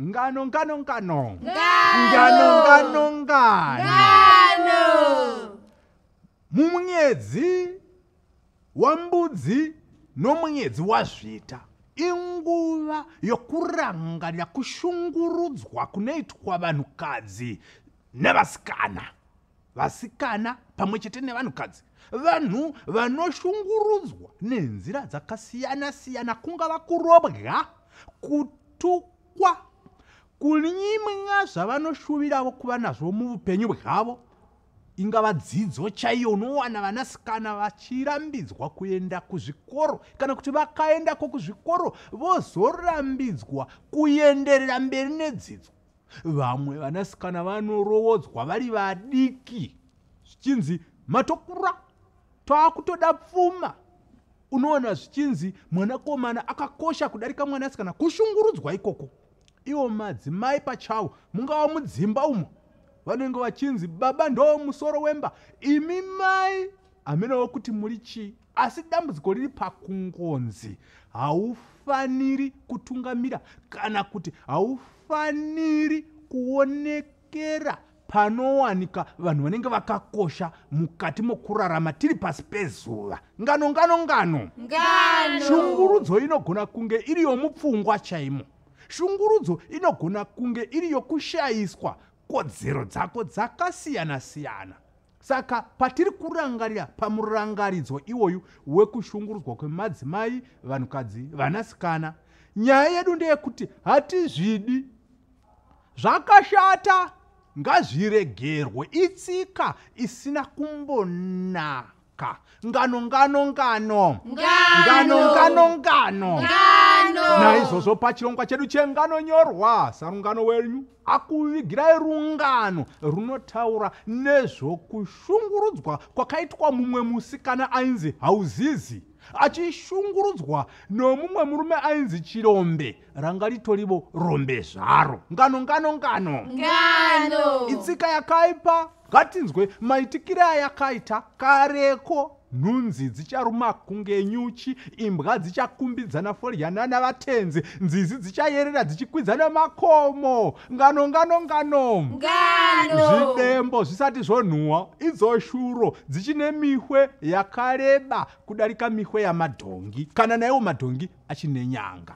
Ngano, ngano, ngano. Ngano, ngano, ngano. Mumunyedzi wambudzi nomunyedzi wazvita inguva yokurangarira kushungurudzwa kunoitwa vanhukadzi nevasikana. vasikana pamwe chete nevanhukadzi vanhu vanoshungurudzwa nenzira dzakasiyana siyana kungava kurobwa kutukwa kunyimwa zvavanoshuviravo kuva nazvo muupenyu bwavo ingava dzidzo chaiyo unowana vanasikana vachirambidzwa kuenda kuzvikoro kana kuti vakaendako kuzvikoro vozorambidzwa kuenderera mberi nedzidzo vamwe vanasikana vanorowodzwa vari vadiki zvichinzi matokura taakutoda pfuma unoona zvichinzi mwanakomana akakosha kudarika mwanasikana kushungurudzwa ikoko ivo madzimai pachavo mungava mudzimba umo vanenge vachinzi baba ndo musoro wemba imi mai hamenowo kuti muri chii asi dambudziko riri pakungonzi haufaniri kutungamira kana kuti haufaniri kuonekera panowanika vanhu vanenge vakakosha mukati mokurarama tiri pasi pezuva ngano ngano ngano shungurudzo inogona kunge iri yomupfungwa chaimo shungurudzo inogona kunge iri yokushayiswa kodzero dzako dzakasiyana-siyana Saka patiri kurangarira pamurangaridzo iwoyu wekushungurudzwa kwemadzimai, vanhukadzi, vanasikana, nyaya yedu ndeyekuti hatizvidi. Zvakashata ngazviregerwe, itsika isina kumbonaka mhaka ngano ngano ngano ngano ngano ngano naizvozvo pachirongwa chedu chengano nyorwa sarungano wenyu akuvigirai rungano runotaura nezvokushungurudzwa kwakaitwa mumwe musikana ainzi hauzizi achishungurudzwa nomumwe murume ainzi chirombe ranga ritorivo rombe zvaro ngano ngano ngano ngano itsika yakaipa ngatinzwe maitikire ayakaita kareko Nhunzi dzicharuma kunge nyuchi, imbwa dzichakumbidzana foryana navatenzi, nzizi dzichayerera dzichikwidzana makomo. Ngano, ngano, ngano! Ngano! Zvidembo zvisati zvonhuwa, idzo shuro dzichine mihwe yakareba kudarika mihwe yamadhongi, kana naiwo madhongi achine nyanga.